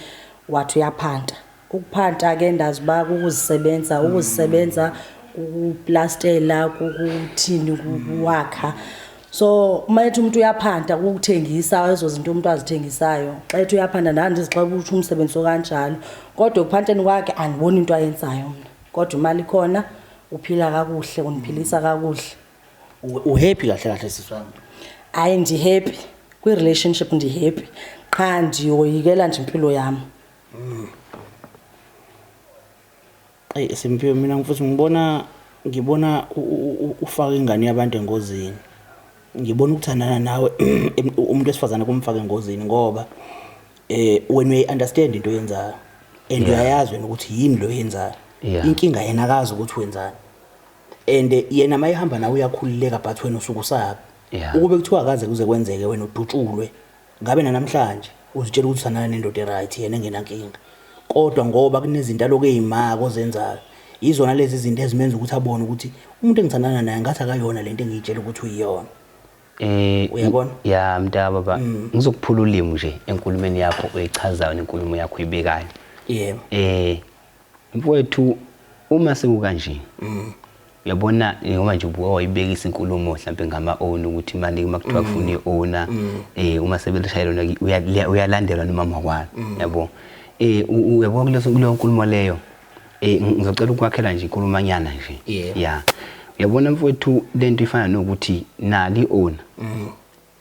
wathi uyaphanta Ukuphanta ke ndazi uba kukuzisebenza ukuzisebenza kukuplastela kukuthini kukuwakha so uma ethi umuntu uyaphanta kukuthengisa ezo zinto umuntu azithengisayo xa ethi uyaphanta ndandizixela ukuthi umsebenzi okanjalo kodwa ekuphanteni kwakhe andiboni into ayenzayo mna kodwa imali ikhona uphila kakuhle undiphilisa kakuhle uhappy kahle kahle siswami hayi ndihappy kwi-relationship ndihappy qha ndiyoyikela nje impilo yami Mm. Eyi Simphiwe mina mfuthu ngibona ngibona ufaka ingane yabantu engozini. Ngibona ukuthandana nawe umuntu wesifazane kumfaka engozini ngoba eh wena uyi understand into oyenzayo and uyayazi wena ukuthi yini lo yenzayo. Inkinga yena akazi ukuthi wenzani. And yena mayihamba nawe uyakhululeka but wena usuke usabi. Ukube kuthiwa akaze kuze kwenzeke wena udutshulwe. Ngabe nanamhlanje uzitshela ukuthi uthandana nendoda e-right yena engenankinga. Kodwa ngoba kunezinto aloku eyimaka ozenzayo, yizona lezi zinto ezimenza ukuthi abone ukuthi umuntu engithandana naye ngathi akayona lento engiyitshela ukuthi uyiyona. Eh, Uyabona? i- ya mntaka baba ngizokuphula ulimi nje enkulumeni yakho oyichazayo nenkulumo yakho oyibekayo Yebo. eh Mfowethu uma sekukanje mm. yabona ngoba nje ubuka wayibekisa inkulumo mhlambe ngama own ukuthi manje uma kuthiwa mm. kufuna iowner mm. eh uma sebelishayela lona uyalandelwa noma makwala mm. yabo eh uyabo kuleso kuleyo nkulumo leyo eh ngizocela ukwakhela nje inkulumanyana nje yeah uyabona mfowethu lento ifana nokuthi nali owner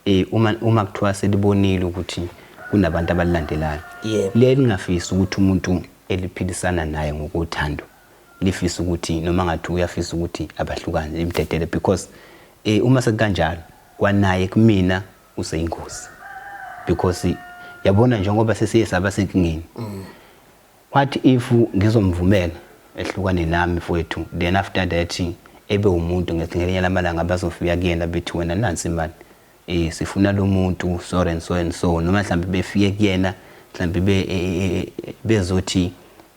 Eh uma uma kuthiwa selibonile ukuthi kunabantu abalilandelayo. Yebo. Liye lingafisi ukuthi umuntu eliphilisana naye ngokothando. Lifisa ukuthi noma ngathi uyafisa ukuthi abahlukane limdedele because eh uma sekukanjalo kwanaye kumina useyingozi. Because yabona njengoba sesiye saba senkingeni. What if ngizomvumela ehlukane nami mfwethu then after that ebe umuntu ngithi ngelinye lamalanga bazofika kuyena bethi wena nansi imali eh sifuna lomuntu sorry and so and so noma mhlambe befike kuyena mhlambe be e, e, e, bezothi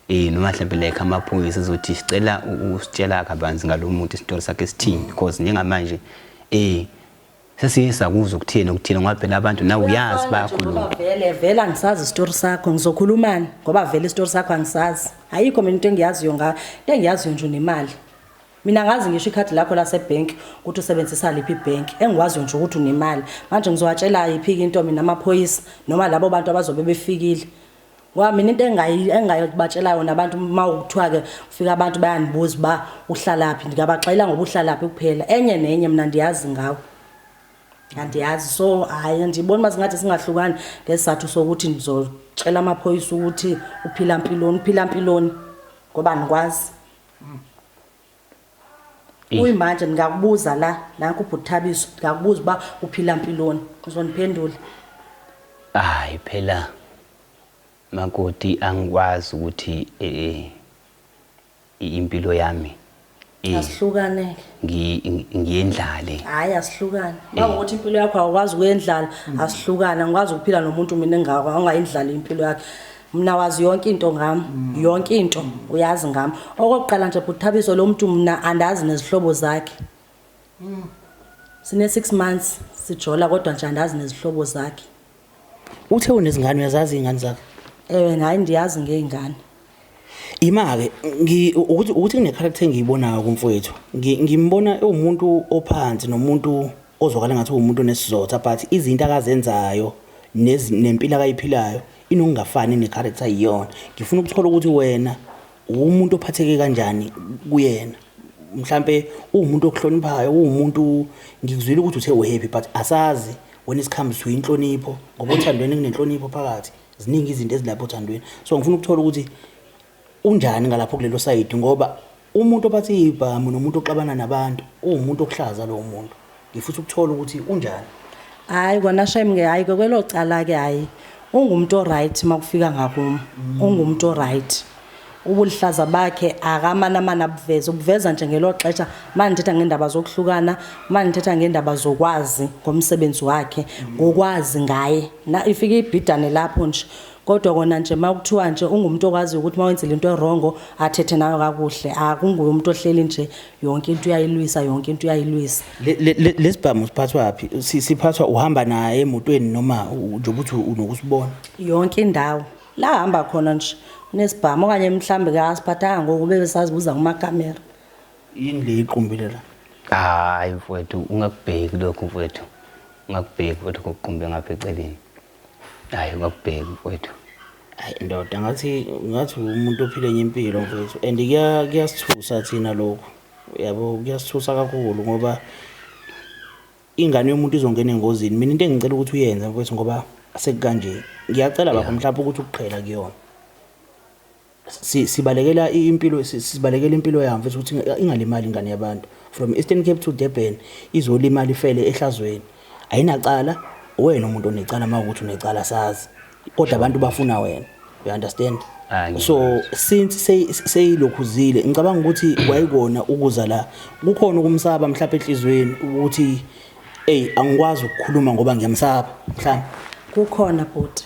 eh noma mhlambe like amaphoyisa ezothi sicela usitshela kabanzi ngalomuntu isitori sakhe sithini because njengamanje eh sesiye sakuzwa ukuthini ukuthini ngoba phela abantu nawe uyazi bayakhuluma vele vele angisazi isitori sakho ngizokhulumani ngoba vele isitori sakho angisazi ayikho mina into engiyaziyo ngayo into engiyaziyo nje unemali mina ngazi ngisho ikhadi lakho lasebhenki ukuthi usebenzisa liphi ibhenki engikwaziyo nje ukuthi unemali manje ngizowatshela yiphi-ke into mina amaphoyisa noma labo bantu abazobe befikile Ngoba mina into engayi engayobatshela yona abantu uma ukuthiwa ke ufika abantu bayanibuza uba uhlalaphi ndingabaxela ngoba uhlalaphi kuphela enye nenye mna ndiyazi ngawo andiyazi so hayi ndibona uba singathi singahlukani ngesizathu sokuthi ndizocela amaphoyisa ukuthi uphila mpiloni uphila mpiloni ngoba ndikwazi Kuyimanje ngingakubuza la nanku ubhuti Thabiso ngiyakubuza uba uphila mpiloni uzoniphendula. Hayi phela makoti angikwazi ukuthi eh impilo yami eh, asihlukane ngiyendlale hayi asihlukane eh. uma ukuthi impilo yakho awukwazi ukuyendlala asihlukane angikwazi ukuphila nomuntu mina engakho angayindlali impilo yakhe mna wazi yonke into ngam mm. yonke into mm. uyazi ngam okokuqala nje bhuthabiso lo mntu mna andazi nezihlobo zakhe mm. sine-six months sijola kodwa nje andazi nezihlobo zakhe uthe unezingane uyazazi iy'ngane zakhe ewe ngayi ndiyazi ngey'ngane ima-ke ukuthi kunekharakter engiyibonayo kumfowethu ngimbona ewumuntu ophansi nomuntu ozwakala ngathi uwumuntu onesizotha but izinto akazenzayo nempilo akayiphilayo inokungafani necharacter iyona ngifuna ukuthola ukuthi wena uwumuntu ophatheke kanjani kuyena mhlampe uwumuntu okuhloniphayo uwumuntu ngikuzwile ukuthi uthe uhappy but asazi when it comes to inhlonipho ngoba othandweni kunenhlonipho phakathi ziningi izinto ezilapho othandweni so ngifuna ukuthola ukuthi unjani ngalapho kulelo sayidi ngoba Umuntu obathi ibhamu nomuntu oxabana nabantu uwumuntu okuhlaza lowo muntu. Ngifutha ukuthola ukuthi unjani. Hayi kona shame ke hayi ke kwelo cala ke hayi ungumuntu oright makufika ngakumo ungumuntu oright ubulihlaza bakhe akamana mana buveza ubuveza nje ngelo xesha mandithetha ngendaba zokuhlukana mandithetha ngendaba zokwazi ngomsebenzi wakhe ngokwazi ngaye na ifike ibhidane lapho nje Kodwa kona nje makuthiwa nje ungumuntu okwaziyo ukuthi mawenzile into erongo athethe nayo kakuhle akunguye umuntu ohleli nje yonke into uyayilwisa yonke into uyayilwisa lesibhamu siphathwa phi siphathwa uhamba naye emotweni noma nje ukuthi unokusibona yonke indawo la hamba khona nje unesibhamu okanye mhlambe ke asiphathanga ngoku bebe sazibuza kumakamera yini le iqumbile la hayi mfowethu ungakubheki lokho mfowethu ungakubheki mfowethu ngokuqumbe ngapha eceleni hayi bakubheke mfowethu hayi ndoda ngathi ngathi umuntu ophile enye impilo mfowethu and kuya- kuyasithusa thina lokhu yabo kuyasithusa kakhulu ngoba ingane yomuntu izongena engozini mina into engicela ukuthi uyenze mfowethu ngoba sekukanje ngiyacela bakho mhlawumbe ukuthi ukuqhela kuyona si, sibalekela impilo sibalekela impilo yami futhi ukuthi ingalimali ingane yabantu from Eastern Cape to Durban izolimala ifele ehlazweni ayinacala wena umuntu onecala mawukuthi unecala sazi kodwa abantu bafuna wena you understand so since seyilokhu zile ngicabanga ukuthi wayikona ukuza la kukhona ukumsaba mhlawumbe enhlizweni ukuthi hey angikwazi ukukhuluma ngoba ngiyamsaba mhlawumbe kukhona bhuti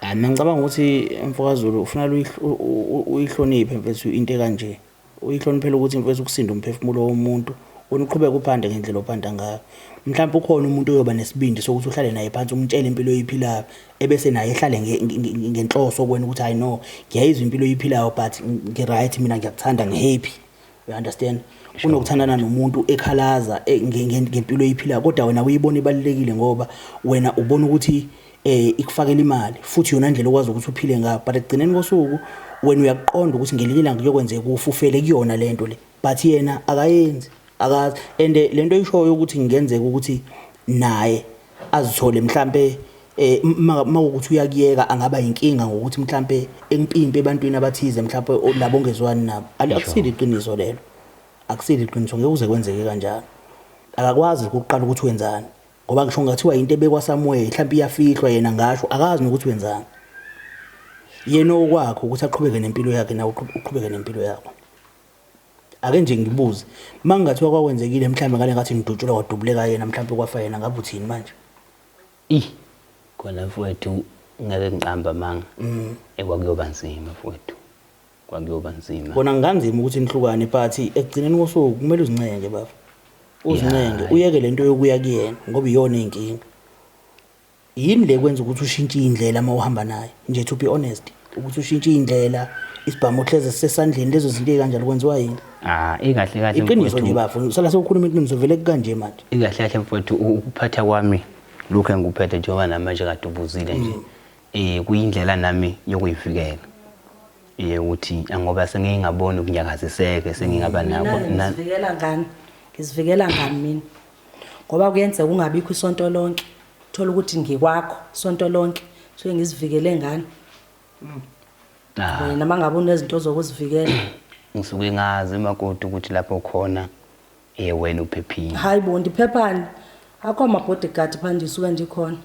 Hayi mina ngicabanga ukuthi mfokaZulu ufuna uyihloniphe mfethu into ekanje. Uyihloniphela ukuthi mfethu ukusinda umphefumulo womuntu, wena uqhubeke uphande ngendlela ophanda ngayo. Mhlampe ukhona umuntu oyoba nesibindi sokuthi uhlale naye phansi umtshele impilo oyiphilayo, ebese naye ehlale ngenhloso kuwena ukuthi hhayi no, ngiyayizwa impilo oyiphilayo but ngi-right mina ngiyakuthanda ngi-happy. you understand kunokuthandana nomuntu ekhalaza eh, nge- nge- ngempilo eyiphila kodwa wena uyibona ibalulekile ngoba wena ubona ukuthi eh ikufakela imali futhi yona ndlela okwazi ukuthi uphile ngayo but ekugcineni kosuku wena uyakuqonda ukuthi ngelinye ilanga kuyokwenzeka ufufele kuyona lento le but yena akayenzi akazi and eh, lento oyishoyo ukuthi ngenzeka ukuthi naye azithole mhlampe eh mawukuthi uyakuyeka angaba inkinga ngokuthi mhlampe empimpe ebantwini abathize mhlampe labo ongezwani nabo akusile iqiniso lelo akusile iqiniso ngeke uze kwenzeke kanjalo akakwazi ukuqala ukuthi wenzani ngoba ngisho ngathiwa into ebekwa somewhere mhlampe iyafihlwa yena ngasho akazi nokuthi wenzani yena okwakho ukuthi aqhubeke nempilo yakhe nawe uqhubeke nempilo yakho Ake nje ngibuze, uma kungathiwa kwakwenzekile mhlawumbe ngale ngathi ngidutshulwa kwadubuleka yena mhlawumbe kwafa yena ngabe uthini manje? Ih, khona mfowethu ngeke ngiqambe amanga. Mm. Eh, kwakuyoba nzima mfowethu. Kwakuyoba nzima. Kona ngikanzima ukuthi nihlukane but ekugcineni kosuku kumele uzincenge baba. Uzincenge, uyeke lento yokuya kuyena ngoba iyona inkinga. Yini le kwenza ukuthi ushintshe indlela uma uhamba naye nje to be honest ukuthi ushintshe indlela isibhamu ohleze sisesandleni lezo zinto ezikanjalo kwenziwa yini Ah, ikahle kahle iqiniso nje mfowethu. bafo sala sewukhuluma iqiniso vele kukanje manje Ikahle kahle mfowethu u- ukuphatha kwami lokhu engikuphethe njengoba nami manje kade ubuzile nje. Eh kuyindlela nami yokuyivikela. Eh ukuthi ngoba sengingaboni ukunyakaziseke sengingaba nakho. Mina na- ngizivikela ngani ngizivikela ngani mina ngoba kuyenzeka ungabikho isonto lonke thola ukuthi ngikwakho isonto lonke so ngizivikele ngani wena uma ngabe unezinto zokuzivikela ngisuke ngazi makoti ukuthi lapho khona ye wena uphephile hayi bo ndiphephani akho ama-bodyguard phandle isuke ndikhona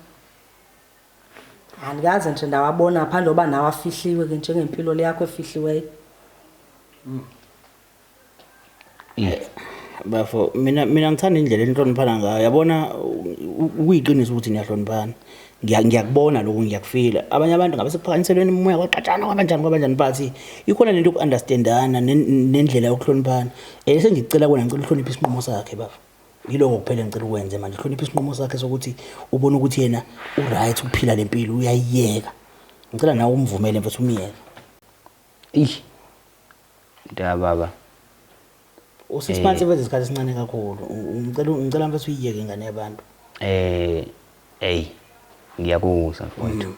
andikaze nje ndawabona phandle oba nawo afihliwe ke njengempilo leyakho efihliweyo bafo mina mina ngithanda indlela enihloniphana ngayo yabona ukuyiqiniso ukuthi niyahloniphana ngiyakubona lokhu ngiyakufila abanye abantu ngabe sekuphakaniselweni umoya kwaqatshana kwabanjani kwabanjani but ikhona lento yoku-understandana nendlela yokuhloniphana um sengikucela kona ngicela uhloniphe isinqumo sakhe bafo yiloko kuphela ngicela ukwenze manje uhloniphe isinqumo sakhe sokuthi ubone ukuthi yena uright ukuphila le mpilo uyayiyeka ngicela nawe umvumele mfethu umyeke ish Mntaka baba. Usisi phansi Eh. wenza isikhathi esincane kakhulu. U- Ngicela ngicela mfethu uyiyeke ingane yabantu. Eh hey ngiyakuzwa mfowethu.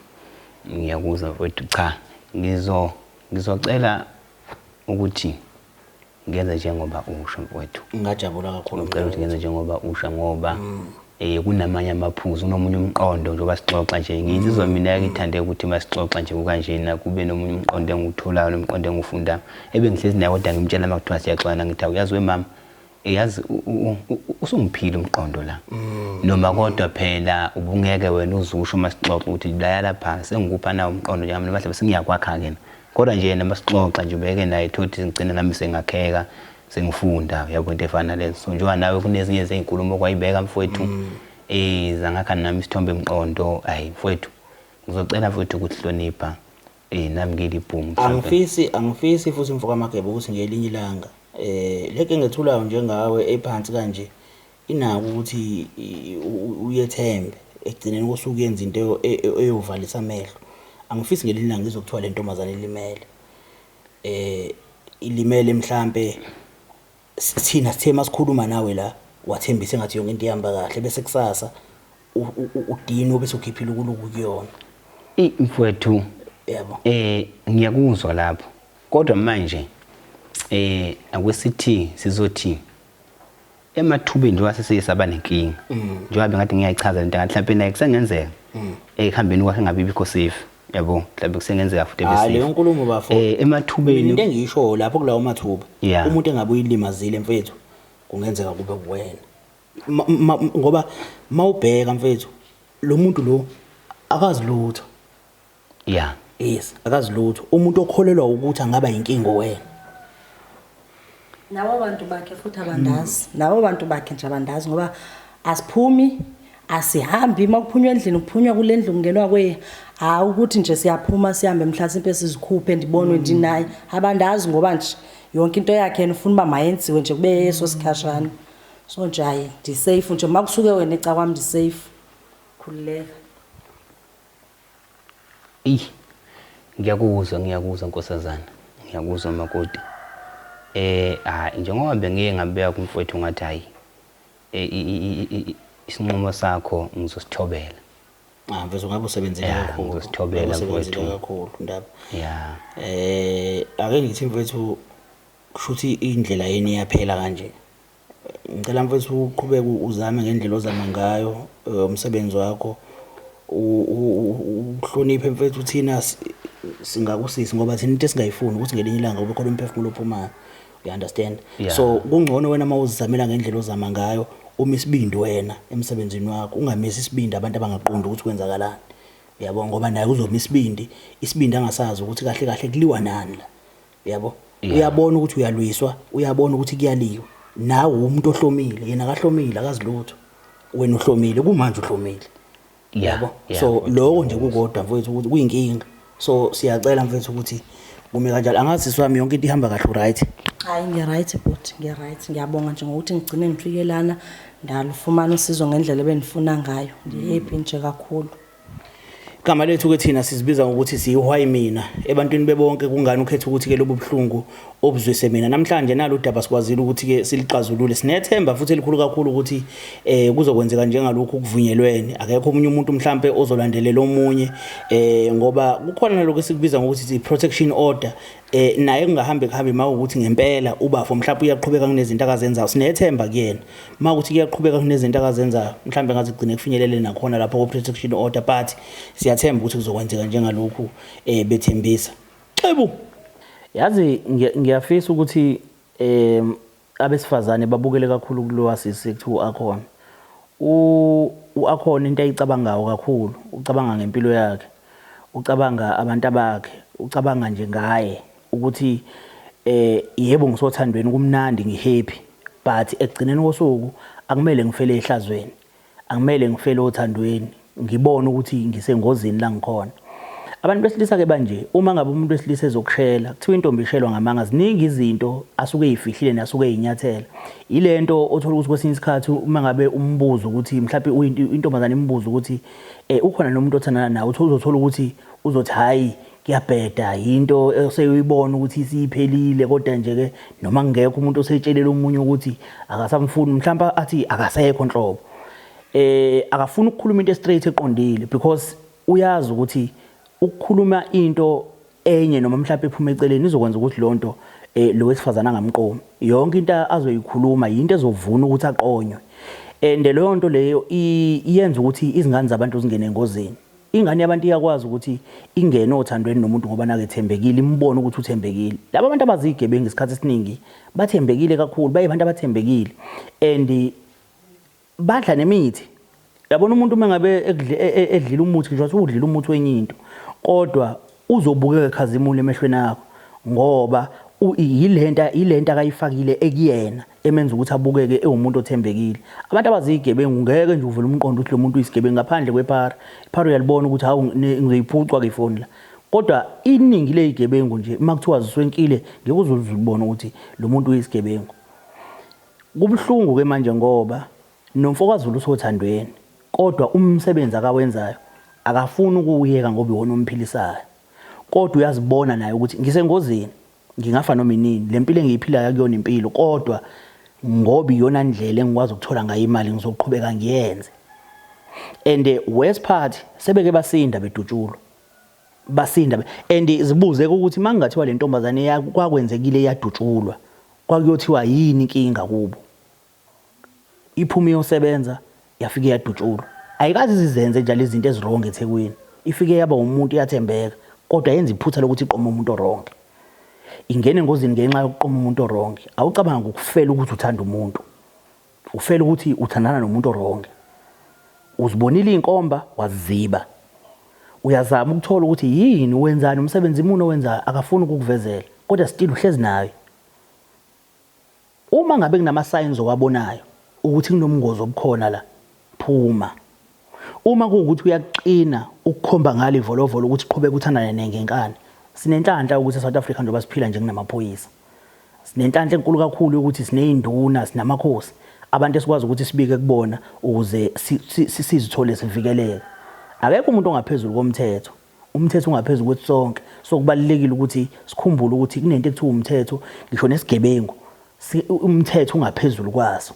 Ngiyakuzwa mfowethu cha ngizo ngizocela ukuthi ngenze njengoba usho mfowethu. Ngingajabula kakhulu. Ngicela ukuthi ngenze njengoba usho ngoba Eh kunamanye amaphuzu kunomunye umqondo njengoba sixoxa nje ngizizwa mm. mina ngithande ukuthi masixoxa nje kukanjena kube nomunye umqondo engiwutholayo nomqondo engiwufundayo ebengihlezi naye kodwa ngimtshela uma kuthiwa siyaxwana ngithi awuyazi wemama eyazi usungiphile umqondo la mm. noma kodwa phela ubungeke wena uzusho uma sixoxa ukuthi laya lapha sengikupha nawo umqondo njengamna noma hlabe sengiyakwakha-ke na kodwa nje yena uma sixoxa nje ubeke naye thothi ngigcina nami sengakheka sengifunda uyabo into efana lezo so njengoba nawe kunezinye zezinkulumo okwayibeka mfowethu mm. eh zangakha nami isithombe emqondo hayi mfowethu ngizocela mfowethu ukuhlonipha eh nami ngilibhungu angifisi angifisi futhi mfoka magebe ukuthi ngelinye ilanga eh leke ngethulayo njengawe ephansi kanje inako ukuthi uyethembe ekugcineni kosuku yenza into e, e, eyovalisa amehlo angifisi ngelinye ilanga ngizokuthiwa le ntombazane ilimele Eh ilimele mhlambe sithina sithe masikhuluma nawe la wathembisa engathi yonke into ihamba kahle bese kusasa udino bese ukhiphile ukuluku kuyona. Ey mfwethu yebo eh ngiyakuzwa lapho kodwa manje eh akwesithi sizothi emathubeni njengoba sesike saba nenkinga mm. njengoba bengathi ngiyayichaza lento ngathi mhlawumbe naye kusengenzeka mm. ekuhambeni kwakhe ngabe ibikho safe yabo mhlawumbe kusengenzeka futhi bese hayi leyo nkulumo bafo eh emathubeni into engisho lapho kulawo mathuba umuntu engabe uyilimazile mfethu kungenzeka kube kuwena ngoba mawubheka mfethu lo muntu lo akazi lutho Yeah. Yes, akazi lutho. Umuntu okholelwa ukuthi angaba yinkingo wena. Labo bantu bakhe futhi abandazi. Mm. Labo bantu bakhe nje abandazi ngoba asiphumi asihambi uma kuphunywa endlini kuphunywa kule ndlu kungenwa kweye hayi ukuthi nje siyaphuma sihambe mhlasimpe sizikhuphe ndibonwe mm. ndinaye abandazi ngoba nje yonke into yakhe yena ufuna uba mayenziwe nje kube yeso sikhashana so nje hayi ndisafe nje uma kusuke wena ecakwami ndisafe khululeka Eyi ngiyakuzwa ngiyakuzwa nkosazana ngiyakuzwa makoti eh hayi njengoba bengike ngabeka kumfowethu ngathi hayi eh, isinqumo sakho ngizosithobela ah mfethu ngabe usebenzile kakhulu ngizosithobela mfethu kakhulu ndaba yeah eh ake ngithi mfethu kushuthi indlela yeni yaphela kanje Ngicela mfethu uqhubeke uzame ngendlela ozama ngayo eh, umsebenzi wakho uhloniphe mfethu thina singakusisi ngoba thina into esingayifuni ukuthi ngelinye ilanga ube khona umphefumulo ophumayo you understand yeah. so kungcono wena uma uzizamela ngendlela ozama ngayo uma isibindi wena emsebenzini wakho ungamisi isibindi abantu abangaqondi ukuthi kwenzakalani yabo ngoba naye uzoma isibindi isibindi angasazi ukuthi kahle kahle kuliwa nani la yabo uyabona ukuthi uyalwiswa uyabona ukuthi kuyaliwa nawe umuntu ohlomile yena akahlomile akazilutho wena uhlomile kumanje uhlomile yabo so lokho nje kukodwa mfowethu ukuthi kuyinkinga so siyacela mfowethu ukuthi kume kanjalo angazi sami yonke into ihamba kahle right hayi ngiya right but ngiya right ngiyabonga nje ngokuthi ngigcine ngifike lana ndalufumana usizo ngendlela ebendifuna ngayo ngihappy nje kakhulu Igama lethu ke thina sizibiza ngokuthi siyihwayi mina ebantwini bebonke kungani ukhetha ukuthi ke lobu buhlungu obuzwise mina namhlanje nalo daba sikwazile ukuthi ke silixazulule sinethemba futhi elikhulu kakhulu ukuthi eh kuzokwenzeka njengalokhu kuvunyelwene akekho umunye umuntu mhlambe ozolandelela omunye eh ngoba kukhona lokho esikubiza ngokuthi i protection order eh naye kungahambi kuhambi mawukuthi ngempela ubafo mhlawumbe uyaqhubeka kunezinto akazenzayo sinethemba kuyena mawukuthi kuyaqhubeka kunezinto akazenzayo mhlawumbe ngaze kugcine kufinyelele nakhona lapho ko protection order but siyathemba ukuthi kuzokwenzeka njengalokhu eh bethembisa xebu yazi ngiyafisa ukuthi eh Abesifazane babukele kakhulu kulowa sisi ekuthiwa u-Akhona. U-Akhona into ayicabangayo kakhulu, ucabanga ngempilo yakhe, ucabanga abantabakhe, ucabanga nje ngaye ukuthi yebo ngisothandweni kumnandi ngi-happy but ekugcineni kosuku akumele ngifele ehlazweni. Angimele ngifele othandweni, ngibone ukuthi ngisengozini la ngikhona. Abantu besilisa-ke banje, uma ngabe umuntu wesilisa ezokushela, kuthiwa intombi ishelwa ngamanga, ziningi izinto asuke eyifihlile nasuke eyinyathela. Yile nto othola ukuthi kwesinye isikhathi uma ngabe umbuzo ukuthi mhlawumbe uyinto- intombazane imbuza ukuthi um ukhona nomuntu othandana nawe, uthi uzothola ukuthi uzothi hhayi kuyabheda yinto oseyibona ukuthi isiphelile kodwa nje ke noma ngekho umuntu osetshelela umunye ukuthi akasamfuni mhlawumbe athi akasekho nhlobo eh akafuni ukukhuluma into straight eqondile because uyazi ukuthi ukukhuluma into enye noma mhlawumbe ephuma eceleni izokwenza ukuthi lonto eh lo wesifazana angamqomi yonke into azoyikhuluma yinto ezovuna ukuthi aqonywe and leyo nto leyo iyenza ukuthi izingane zabantu zingene engozini Ingane yabantu iyakwazi ukuthi ingene othandweni nomuntu ngoba nakethembekile, imbone ukuthi uthembekile. Laba bantu abazigebengu isikhathi esiningi bathembekile kakhulu, bayibantu abathembekile and badla nemithi. Yabona umuntu uma ngabe e, e, edlile umuthi ngisho ukuthi udlile umuthi wenye into kodwa Uzobukeka ekhazimula emehlweni akho ngoba yilenta yilenta akayifakile ekuyena emenza ukuthi abukeke ewumuntu othembekile. Abantu abazigebengu ngeke nje uvele umqondo ukuthi lo muntu uyisigebengu ngaphandle kwephara. Iphara uyalibona ukuthi hawu ngizoyiphucwa ke ifoni la. Kodwa iningi lezigebengu nje uma kuthiwa ziswenkile ngeke uzulibone ukuthi lo muntu uyisigebengu. Kubuhlungu ke manje ngoba NomfokaZulu usothandweni kodwa umsebenzi akawenzayo akafuni ukuwuyeka ngoba iwona omphilisayo. Kodwa uyazibona naye ukuthi ngisengozini, ngingafa noma inini, le mpilo engiyiphilayo akuyona impilo kodwa ngoba iyona ndlela engikwazi ukuthola ngayo imali ngizoqhubeka ngiyenze. And worse part sebeke basinda bedutshulwa. Basinda and zibuzeke ukuthi mangingathiwa le ntombazane kwakwenzekile yadutshulwa kwakuyothiwa yini inkinga kubo. Iphume iyosebenza yafike yadutshulwa. Ayikaze izizenze njalo izinto ezirongi eThekwini. Ifike yaba umuntu iyathembeka kodwa yenza iphutha lokuthi iqome umuntu orongi. Ingene engozini ngenxa yokuqoma umuntu orongi. Awucabangi ukufela ukuthi uthanda umuntu. Ufela ukuthi uthandana nomuntu orongi. Uzibonile izinkomba waziziba. Uyazama ukuthola ukuthi yini wenzani umsebenzi muni owenzayo akafuni ukukuvezela kodwa still uhlezi nayo. Uma ngabe kunama signs owabonayo ukuthi kunobungozi obukhona la, phuma. Uma kuwukuthi uyakuqina ukukhomba ngalo ivolovolo ukuthi qhubeka uthandane ne ngenkani. Sinenhlanhla yokuthi eSouth Africa njengoba siphila nje kunamaphoyisa. Sinenhlanhla enkulu kakhulu yokuthi siney'nduna, sinamakhosi. Abantu esikwazi ukuthi sibike kubona ukuze sizithole sivikeleka. Akekho umuntu ongaphezulu komthetho. Umthetho ungaphezu kwethu sonke. So kubalulekile ukuthi sikhumbule ukuthi kunento ekuthiwa umthetho, ngisho nesigebengu umthetho ungaphezulu kwaso.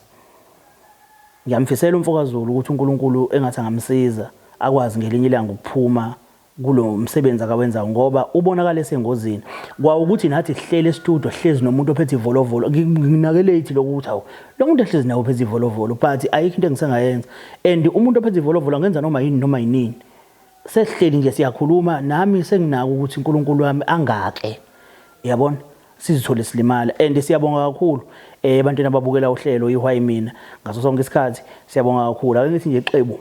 Ngiyamfisela umfokaZulu ukuthi uNkulunkulu engathi angamsiza akwazi ngelinye ilanga ukuphuma kulo msebenzi akawenzayo ngoba ubonakala esengozini kwawukuthi nathi sihlele estudio sihlezi nomuntu ophethe ivolovolo nginakelate lokho ukuthi awu lo muntu ehlezi nawe ophethe ivolovolo but ayikho into engisengayenza and umuntu ophethe ivolovolo angenza noma yini noma yinini sesihleli nje siyakhuluma nami senginaka ukuthi uNkulunkulu wami angake yabona sizithole silimala and siyabonga kakhulu eh ebantwini ababukela uhlelo ihwayi mina ngaso sonke isikhathi siyabonga kakhulu ake ngithi nje xebu